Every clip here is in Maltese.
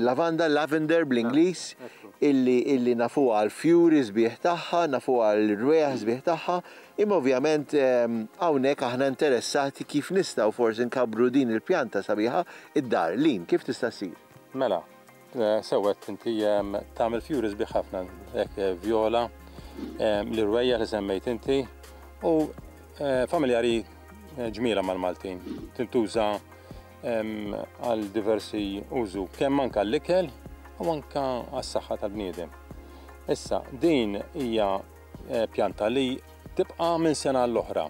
Lavanda, lavender bl-Ingliż, illi nafuha għall-fjuri sbieħ tagħha, nafuha għall-rwejjaħ sbieħ tagħha, imma ovvjament hawnhekk aħna interessati kif nistgħu forsi nkabbru din il-pjanta sabiħa d-dar. Lynn, kif tista' ssir? Mela, sewwa għedt inti, tagħmel fjuri sbieħ ħafna, hekk vjola, l-irwejjaħ li semmejt inti, u familjari ġmielha mal-Maltin. Tintuża għal diversi użu, kemm anke għall-ikel u anke għas-saħħa tal-bniedem. Issa, din hija eh, pjanta li tibqa' minn sena l-oħra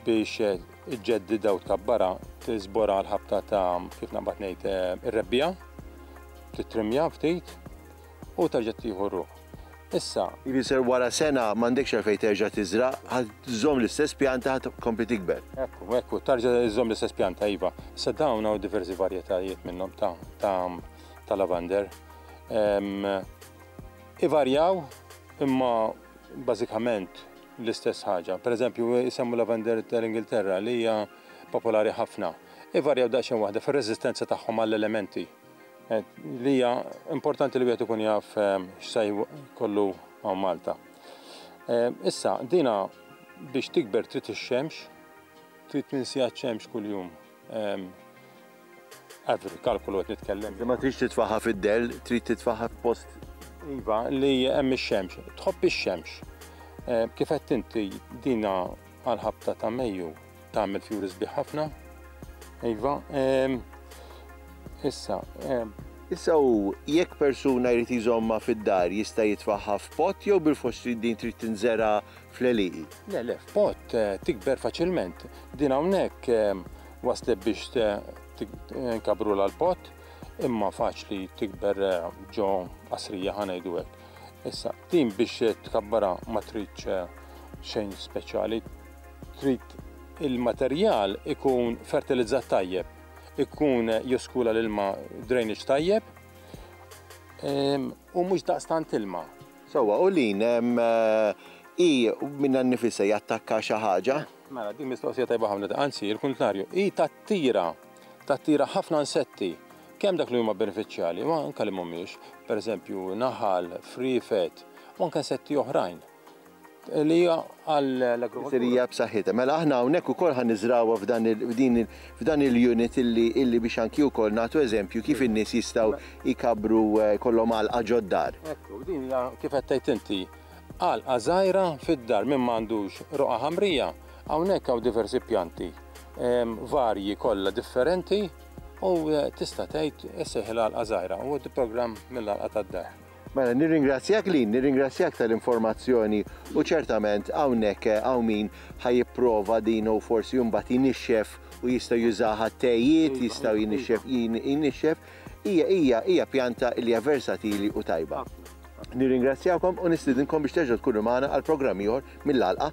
biex eh, iġġeddida u tkabbara tiżbora l-ħabta ta' kif naqbad ngħid eh, ir-rebbija, titrimja ftit u terġa' tieħu r-ruħ. Issa, Jfisser wara sena m'għandekx għalfejn terġa' tiżra', ħadd żżomm l-istess pjanta ħadd tkompli tikber. Ekku, ekku, terġa' żżomm l-istess pjanta, iva. Issa dawn hawn diversi varjetajiet minnhom ta' ta' ta' lavander. Ehm, ivarjaw imma bażikament l-istess ħaġa. Per eżempju, isemmu lavender tal-Ingilterra li hija popolari ħafna. Ivarjaw daqsxejn waħda fir-reżistenza tagħhom għall-elementi. Li hija importanti li wieħed ikun jaf ehm, x'se kollu hawn Malta. Ehm, issa, dina biex tikber trid ix-xemx, trid ninsija ċ-xemx kuljum. Ehm, Avri, kalkulu qed nitkellem. Ma tridx titfaħħa fid-del, trid titfaħħa f'post iva li hemm ix-xemx. Tħobb ix-xemx. Kif qed inti dina għal-ħabta ta' Mejju Tagħmel fjuri sbieħ ħafna. Iva, ehm, issa, ehm. Issa u jekk persuna jrid jżomma fid-dar jista' jitfaħħa f'pott jew bil-fors trid din trid tinżera fl-eliqi. Le, le, f'pott eh, tikber faċilment. Din hawnhekk ehm, waslet biex eh, eh, nkabru l-pott imma faċli tikber ġo qasrija ħanajdu hekk. Issa, din biex tkabbara ma tridx xejn speċjali, Trid il-materjal ikun fertilizzat tajjeb, ikun joskula l-ilma drainage tajjeb ehm, u mhux daqstant ilma. Sewwa, u lin ehm, i minna nnifisha jattakka xi ħaġa? Mela, din mistoqsija tajba ħafna, anzi, il-kuntrarju, i tattira, tattira ħafna insetti, kemm dak li huma benefiċjali, ma anke li mhumiex, pereżempju naħal, friefet, u anke insetti oħrajn. li għall-agrikoltura b'saħħitha. Mela aħna hawnhekk ukoll ħa niżrawha f'dan il-unit illi biex anki wkoll nagħtu eżempju kif in-nies jistgħu jkabbru jkollhom għalqa ġod-dar. Ekku, din hija kif qed tgħid inti, għalqa żgħira fid-dar min ma għandux roqgħa ħamrija, hawnhekk hawn diversi pjanti varji kollha differenti u tista' tgħid issejħilha għalqa żgħira u programm mill-għalqa tad-dar. Mela, nirringrazzjak Lynn, nirringrazzjak tal-informazzjoni u ċertament hawnhekk hawn min ħa jipprova din u forsi imbagħad jinixxef u jista' jużaha għat-tejiet, jistgħu jinixxef, jinixxef. Hija hija hija pjanta li hija versatili u tajba. Nirringrazzjakom u nistidinkom biex terġgħu tkunu magħna għal programm ieħor mill-għalqa.